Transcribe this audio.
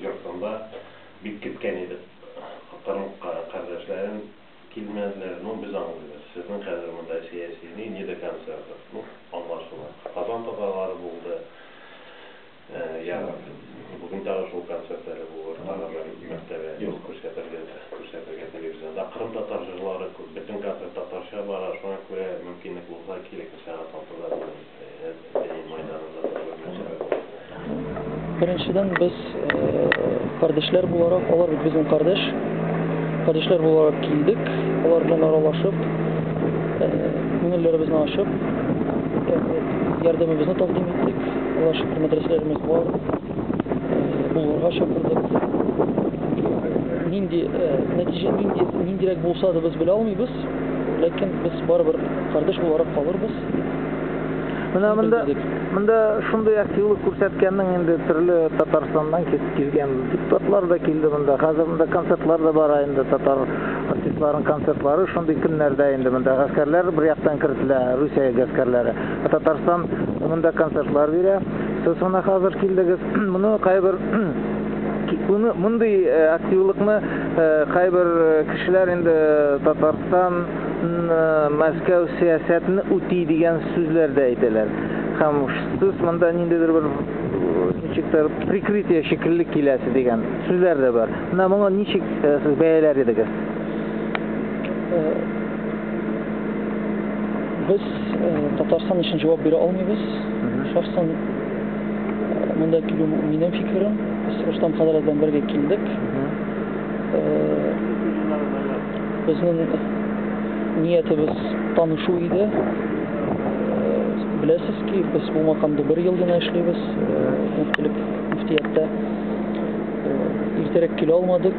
йортында бик көткән идек. Кырым кардәшләрен килмәделәр. Ну, без аңлыйбыз. Сезнең хәзер монда сәяси ни, не до конца бер. Ну, аңлашыла. Казан татарлары булды. Я бүген тагы шул концерт әле булыр, тагы бер мәртәбә күрсәтергә, күрсәтергә телевизионда. Кырым татар җырлары күп. Бөтен концерт татарча бара, шуңа күрә мөмкинлек булса, килегез сәгать алтыда. Беренчедән, без кардәшләр буларак, алар бит безнең кардәш, кардәшләр буларак килдек, алар белән аралашып, күңелләребезне ачып, ярдәмебезне тәкъдим иттек. Аллага шөкер, мәдрәсәләребез бар. булырга чакырды безне. Нинди нәтиҗә нинди ниндирәк булса да без белә алмыйбыз, ләкин без барыбер кардәш буларак калырбыз. Менә монда монда шундый активлык күрсәткәннең инде төрле Татарстаннан килгән депутатлар да килде монда. Хәзер монда концертлар да бара инде татар артистларының концертлары шундый көннәрдә инде монда гаскәрләр бер яктан кертелә, Русия гаскәрләре. Татарстан монда концертлар бирә. Сез гына хәзер килдегез. Моны кайбер Буны мондый э, активлыкны э, кайбер э, кешеләр инде Татарстан Мәскәү сәясәтен үти дигән сүзләр дә әйтәләр. Һәм сез монда ниндидер бер ничектер прикрытие шикелле киләсе дигән сүзләр дә бар. Менә моңа ничек сез бәяләр идегез? Без э, Татарстан өчен җавап бирә алмыйбыз. Шәхсән э, монда килү минем фикерем. Без Рустам Хәзрәт белән бергә килдек. Э, Безнең ниятебез танышу иде. Э, Беләсез ки, без бу макамда бер ел гына эшлибез, э, мөфтилек мөфтияттә. Э, Иртәрәк килә алмадык.